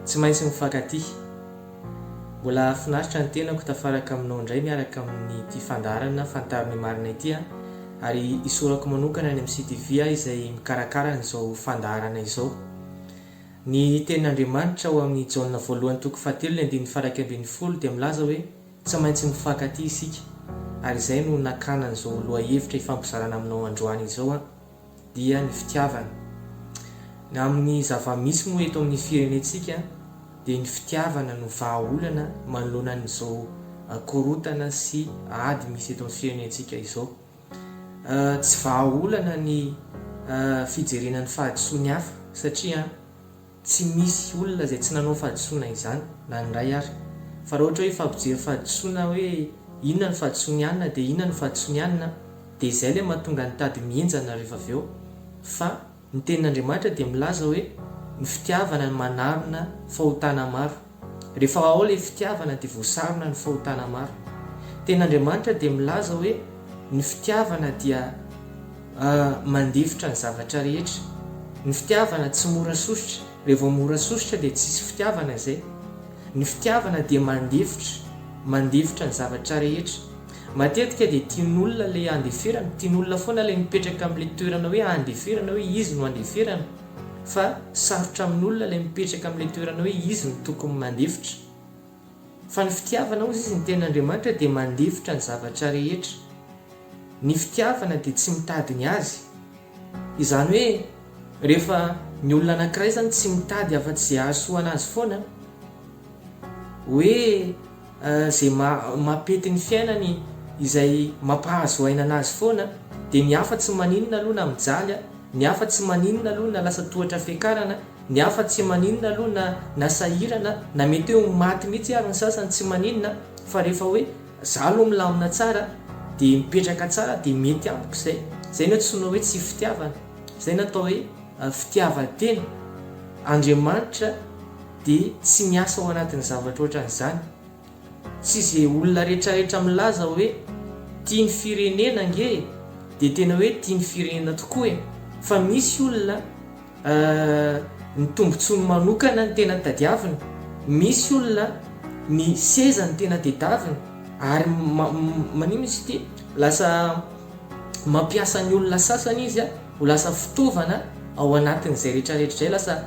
Tsy maintsy mifankatia. Mbola hahafinaritra ny tenako tafaraka aminao indray miaraka amin'ity fandaharana Fantaro ny marina ity an! Ary hisorako manokana any amin'ny CTV aho izay mikarakara an'izao fandaharana izao. Ny tenin'Andriamanitra ao amin'ny Jaona voalohany toko fahatelo ny andininy faha iraika ambin'ny folo dia milaza hoe tsy maintsy mifankatia isika. Ary izay no nakana an'izao lohahevitra hifampizarana aminao androany izao an! dia ny fitiavana. Ny amin'ny zava-misy moa eto amin'ny firenentsika dia ny fitiavana no vahaolana manoloana an'izao korontana sy ady misy eto amin'ny firenentsika izao. Tsy vahaolana ny fijerena ny fahadisoan'ny hafa satria Tsy misy olona izay tsy nanao fahadisoana izany na ny iray ary. Fa raha ohatra hoe hifampijery fahadisoana hoe inona no fahadisoan'i Anna dia inona no fahadisoan'i Anna dia izay ilay mahatonga ny tady mihenjana rehefa avy eo. Fa ny tenin'Andriamanitra dia milaza hoe ny fitiavana no manarona fahotana maro. Rehefa ao ilay fitiavana dia voasarona ny fahotana marina. Teny Andriamanitra dia milaza hoe ny fitiavana dia mandefitra ny zavatra rehetra. Ny fitiavana tsy mora sosotra, raha vao mora sosotra dia tsisy fitiavana izay. Ny fitiavana dia mandefitra, mandefitra ny zavatra rehetra. Matetika dia tian'olona ilay andeferana, tian'olona foana ilay mipetraka amin'ilay toerana hoe andeferana hoe izy no andeferana. fa sarotra amin'olona ilay mipetraka amin'ilay toerana hoe izy no tokony mandefitra fa ny fitiavana hozy izy ny tenin'Andriamanitra dia mandefitra ny zavatra rehetra ny fitiavana dia tsy mitady ny azy izany hoe rehefa ny olona anankiray izany tsy mitady afa-tsy izay hahasoa an'azy foana hoe izay mampety ny fiainany izay mampahazo aina anazy foana dia ny hafa tsy maninona aloha na mijaly a, ny hafa tsy maninona aloha na lasa tohatra fiakarana, ny hafa tsy maninona aloha na na sahirana, na mety hoe ho maty mihitsy ary ny sasany tsy maninona fa rehefa hoe za aloha milamina tsara dia mipetraka tsara dia mety amiko izay, izay no antsoina hoe tsy fitiavana, izay no atao hoe fitiavan-tena, Andriamanitra Dia tsy miasa ao anatin'ny zavatra ohatran'izany. Tsy izay olona rehetrarehetra milaza hoe tia ny firenena ange e, dia tena hoe tia ny firenena tokoa e. Fa misy olona ny tombontsoany manokana no tena tadiaviny, misy olona ny seza no tena tedaviny, ary maninona izy ity? Lasa mampiasa ny olona sasany izy a! Ho lasa fitaovana ao anatin'izay rehetrarehetra izay lasa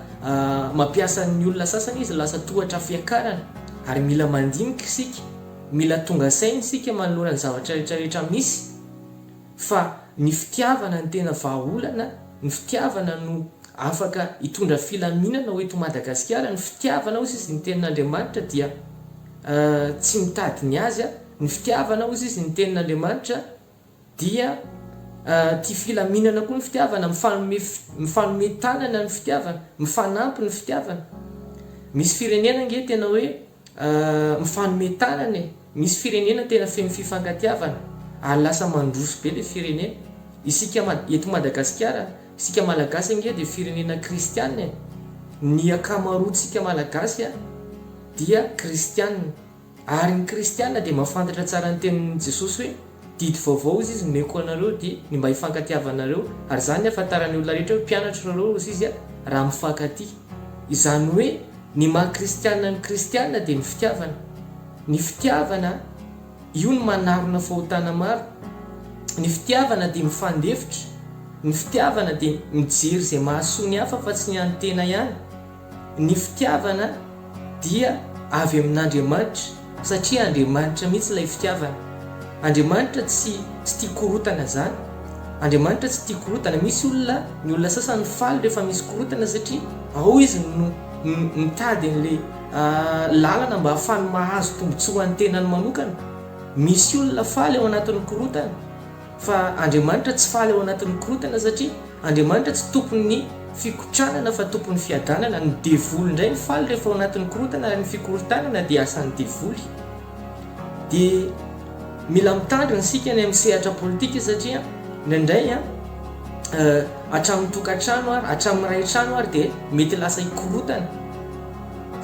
mampiasa ny olona sasany izy, lasa tohatra fiakarana ary mila mandinika isika, mila tonga saina isika manoloana ny zavatra rehetrarehetra misy fa ny fitiavana no tena vahaolana, ny fitiavana no afaka hitondra filaminana ho eto Madagasikara, ny fitiavana hozy izy ny tenin'Andriamanitra dia tsy mitady ny azy, ny fitiavana hozy izy ny tenin'Andriamanitra. Dia tia filaminana koa ny fitiavana, mifanome mifanome tanana ny fitiavana, mifanampy ny fitiavana. Misy firenena ange tena hoe mifanome tanana e! Misy firenena tena feno fifankatiavana ary lasa mandroso be ilay firenena. Isika eto Madagasikara, isika Malagasy ange dia firenena kristiana e! Ny akamaroantsika Malagasy dia kristiana. Ary ny kristiana dia mahafantatra tsara ny tenin'i Jesosy hoe, Didy vaovao ozy izy nomeko anareo dia ny mba hifankatiavanareo, ary izany ny hahafantaran'ny olona rehetra hoe mpianatro rareo ozy izy raha mifankatia. Izany hoe ny maha kristiana ny kristiana dia ny fitiavana. Ny fitiavana io no manarona fahotana maro. Ny fitiavana dia mifandefitra. Ny fitiavana dia mijery izay mahasoa ny hafa fa tsy ny an'ny tena ihany. Ny fitiavana dia avy amin'Andriamanitra satria Andriamanitra mihitsy ilay fitiavana. Andriamanitra tsy tsy tia korotana zany. Andriamanitra tsy tia korotana. Misy olona ny olona sasany faly rehefa misy korotana satria ao izy no mitady an'le lalana mba hahafany mahazo tombotsoa an'ny tenany manokana. Misy olona faly ao anatin'ny korotana. Fa Andriamanitra tsy faly ao anatin'ny korotana satria Andriamanitra tsy tompon'ny fikotranana fa tompon'ny fiadanana. Ny devoly indray no faly rehefa ao anatin'ny korotana ary ny fikorontanana dia asan'ny devoly. Dia mila mitandrina isika ny amin'ny sehatra politika satria indraindray an, hatramin'ny tokantrano ary hatramin'ny iray trano ary dia mety lasa hikorotana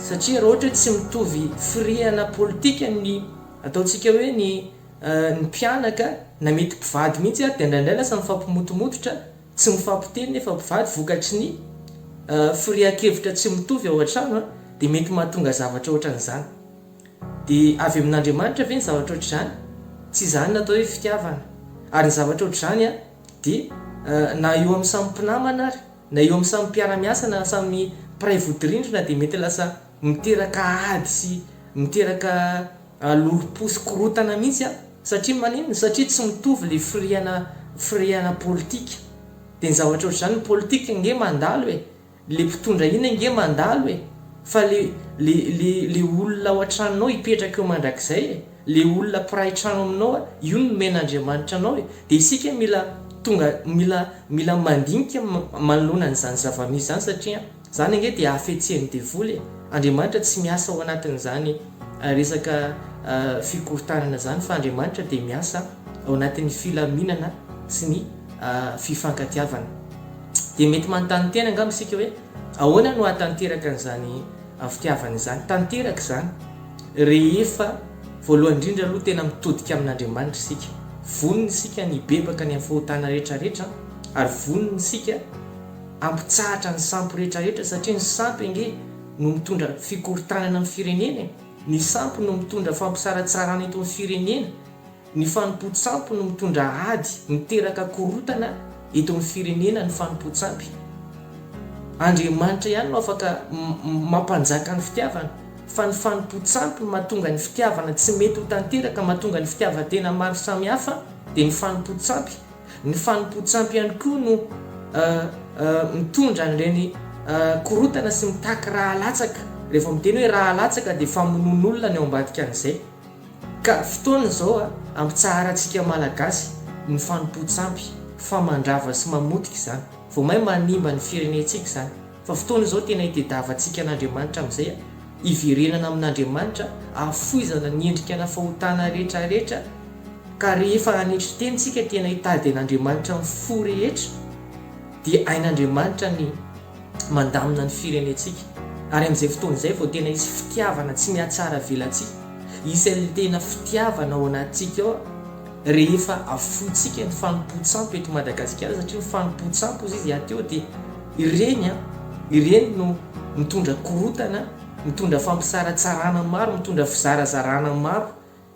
satria raha ohatra hoe tsy mitovy firehana politika ny ataontsika hoe ny ny mpianaka na mety mpivady mihitsy ary dia indraindray lasa mifampimotomototra, tsy mifampiteny nefa mpivady vokatry ny firehan-kevitra tsy mitovy ao an-trano dia mety mahatonga zavatra ohatran'izany. Dia avy amin'Andriamanitra ve ny zavatra ohatr'izany? Tsy izany no atao hoe fitiavana. Ary ny zavatra ohatr'izany dia na eo amin'ny samy mpinamana ary na eo amin'ny samy mpiara-miasa na samy mpiray vodirindrina dia mety lasa Miteraka ady sy miteraka lolompo sy korotana mihitsy an! Satria maninona? Satria tsy mitovy le firehana firehana politika. De ny zavatra ohatr'izany ny politika ange mandalo e! Le mpitondra iny ange mandalo e! Fa le le le le olona ao an-tranonao hipetraka eo mandrakizay e! Le olona mpiray trano aminao a! Io no nomen'Andriamanitra anao e! De isika mila tonga mila mila mandinika manoloana an'izany zava-misy izany satria. Zany ange dia hafetseny devoly e! Andriamanitra tsy miasa ao anatin'izany resaka fikorontanana zany fa Andriamanitra dia miasa ao anatin'ny filaminana sy ny fifankatiavana. Dia mety manontany tena angamba isika hoe ahoana no ahatanteraka an'izany fitiavana izany? Tanteraka izany rehefa voalohany indrindra aloha tena mitodika amin'Andriamanitra isika. Vonona isika ny hibebaka ny amin'ny fahotana rehetra rehetra ary vonona isika Hampitsahatra ny sampy rehetra rehetra satria ny sampy ange no mitondra fikorontanana amin'ny firenena e! Ny sampy no mitondra fampisaratsarana eto amin'ny firenena, ny fanompoan-tsampy no mitondra ady, miteraka korontana eto amin'ny firenena ny fanompoan-tsampy. Andriamanitra ihany no afaka mampanjaka ny fitiavana fa ny fanompoan-tsampy no mahatonga ny fitiavana tsy mety ho tanteraka, mahatonga ny fitiavan-tena maro samihafa dia ny fanompoan-tsampy. Ny fanompoan-tsampy ihany koa no mitondra an'ireny korontana sy mitaky ra latsaka. Rehefa miteny hoe ra latsaka dia famonoan'olona ny ao ambadikan'izay. Ka fotoana izao hampitsaharantsika Malagasy ny fanompoan-tsampy fa mandrava sy mamotika izany. Vao may manimba ny firenentsika izany. Fa fotoana izao tena itediavantsika an'Andriamanitra amin'izay hiverenana amin'Andriamanitra, hahafoizana ny endrikana fahotana rehetra rehetra, ka rehefa hanetry teny isika tena hitady an'Andriamanitra amin'ny fo rehetra, dia hain'Andriamanitra ny mandamina ny firenentsika, ary amin'izay fotoana izay vao tena hisy fitiavana tsy mihatsara velatsihy, hisy an'ilay tena fitiavana ao anatintsika ao, Rehefa afointsika ny fanompoan-tsampy eto Madagasikara satria ny fanompoan-tsampy hozy izy aty eo dia ireny an, ireny no mitondra korontana, mitondra fampisaratsarana maro, mitondra fizarazarana maro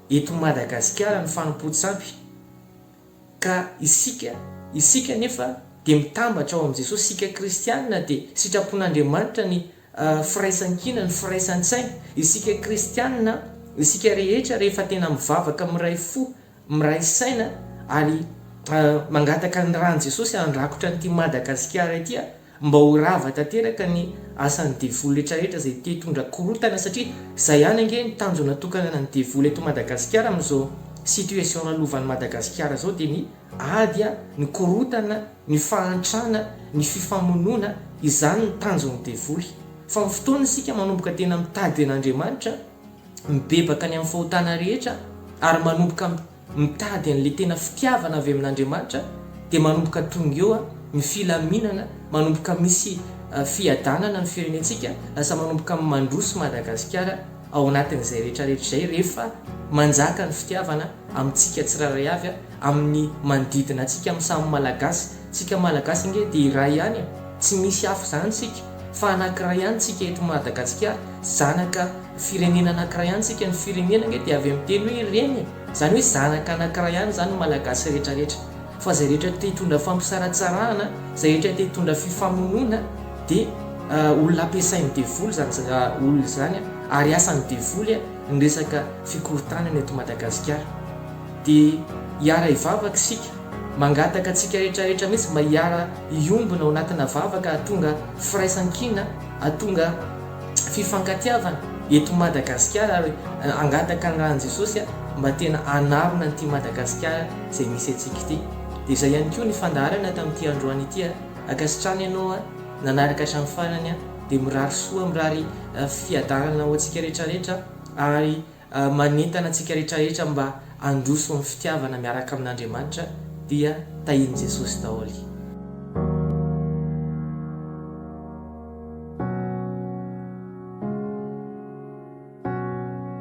eto Madagasikara ny fanompoan-tsampy ka isika, isika anefa dia mitambatra ao amin'i Jesosy, isika kristianina dia sitrapon'Andriamanitra ny. firaisankina, ny firaisan-tsaina. Isika kristianina, isika rehetra rehefa tena mivavaka miray fo, miray saina ary mangataka ny ran'i Jesosy handrakotra an'ity Madagasikara ity mba ho rava tanteraka ny asan'ny devoly rehetra rehetra izay te hitondra korontana satria izay ihany ange ny tanjona tokanana ny devoly eto Madagasikara amin'izao situation lalovan'i Madagasikara izao dia ny Ady a, ny korotana, ny fahantrana, ny fifamonoana, izany ny tanjon'ny devoly. Fa amin'ny fotoana isika manomboka tena mitady an'Andriamanitra, mibebaka ny amin'ny fahotana rehetra ary manomboka mitady an'ilay tena fitiavana avy amin'Andriamanitra dia manomboka tonga eo ny filaminana, manomboka misy fiadanana ny firenentsika, lasa manomboka mandroso Madagasikara ao anatin'izay rehetrarehetra izay rehefa manjaka ny fitiavana amintsika tsirairay avy. amin'ny manodidina antsika amin'ny samy Malagasy, tsika Malagasy ange dia iray ihany e! tsy misy hafa izany tsika fa anankiray ihany tsika eto Madagasikara, zanaka firenena anankiray ihany tsika, ny firenena ange dia avy amin'ny teny hoe reny e! izany hoe zanaka anankiray ihany izany ny Malagasy rehetra rehetra, fa izay rehetra te hitondra fampisaratsarahana, izay rehetra te hitondra fifamonoana dia olona ampiasain'ny devoly izany olona izany ary asan'ny devoly ny resaka fikorontanana eto Madagasikara. Dia hiara hivavaka isika, mangataka antsika rehetra rehetra mihitsy mba hiara hiombona ao anatina vavaka hahatonga firaisan-kina, hahatonga fifankatiavana eto Madagasikara ary hangataka ny ran'i Jesosy mba tena hanarona an'ity Madagasikara izay misy antsika ity. Dia izay ihany koa ny fandaharana tamin'ity androany ity a! Ankasitrahana ianao a! Nanaraka hatramin'ny farany a! Dia mirary soa, mirary fiadanana ho antsika rehetra rehetra ary manentana antsika rehetrarehetra mba handroso amin'ny fitiavana miaraka amin'Andriamanitra dia tahian'i Jesosy daholo.